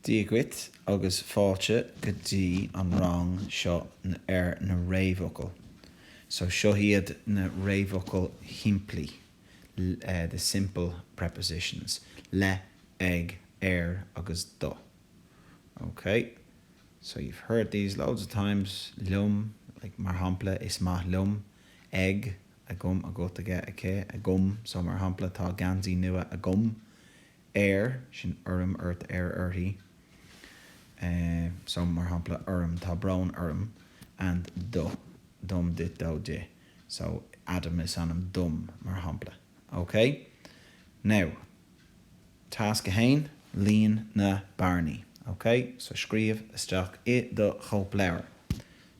Dia dhuit agus fáilte go dtí an rang seo ar na réamhfhocail. So seo iad na réamhfhocail shimplí, the simple prepositions, le, ag, ar agus do. Ok? So you've heard these loads of times, liom, like, mar shampla, is maith liom, ag, agam, agat, aige, aici, agam, so mar shampla tá geansaí nua agam, air, sin orm, ort, air, uirthi, so mar shampla orm, tá brón orm, and do, dom, duit, dó, di, so Adam is ainm dom mar shampla, ok? Now Tasc 1, Líon na bearnaí, ok? So scríobh isteach i do chóipleabhar.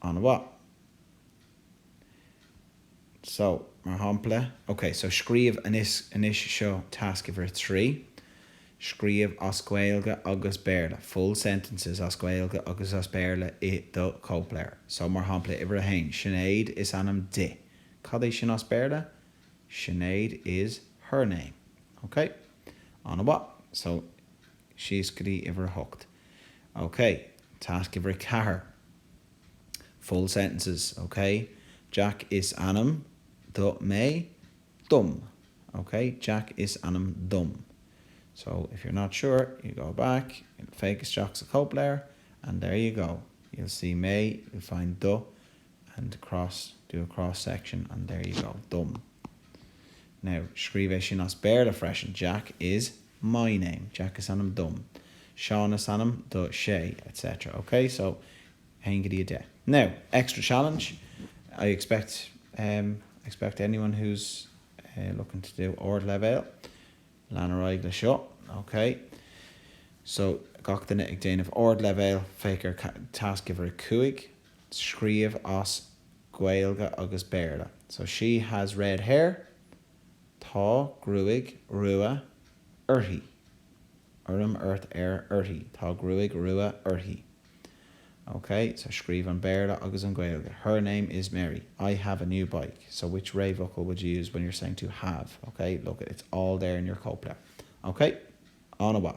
An-mhaith. So, mar shampla, ok, so scríobh anois, seo tasc uimhir a trí. Scríobh as Gaeilge agus Béarla, full sentences as Gaeilge agus as Béarla i do chóipleabhar. So, mar shampla, uimhir a haon, Sinéad is ainm di. Cad é sin as Béarla? Sinéad is her name. Ok? An-mhaith. So, síos go dtí uimhir a hocht. OK. Task uimhir a ceathair. Full sentences OK. Jack is ainm do mé, dom. OK. Jack is ainm dom. So, if you're not sure, you go back, féach isteach sa chóipleabhar and there you go. You'll see mé, you'll find do and cross, do a cross section and there you go, dom. Now, scríobh é sin as Béarla freisin, Jack is. my name, Jack is ainm dom, Seán is ainm dó, sé, etc. ok so 1 go dtí 10. Now, extra challenge, I expect anyone who's looking to do ardleibhéal, lean ar aghaidh le seo, ok so gach duine ag déanamh ardleibhéal féach ar tasc uimhir a cúig scríobh as Gaeilge agus Béarla so she has red hair, Tá gruaig rua uirthi. orm ort air uirthi Tá gruaig rua uirthi. Ok, so scríobh an Béarla agus an Gaeilge, Her name is Mary. I have a new bike. So which réamhfhocal would you use when you're saying to have? Ok, look, it's all there in your cóipleabhar. Ok? An-mhaith.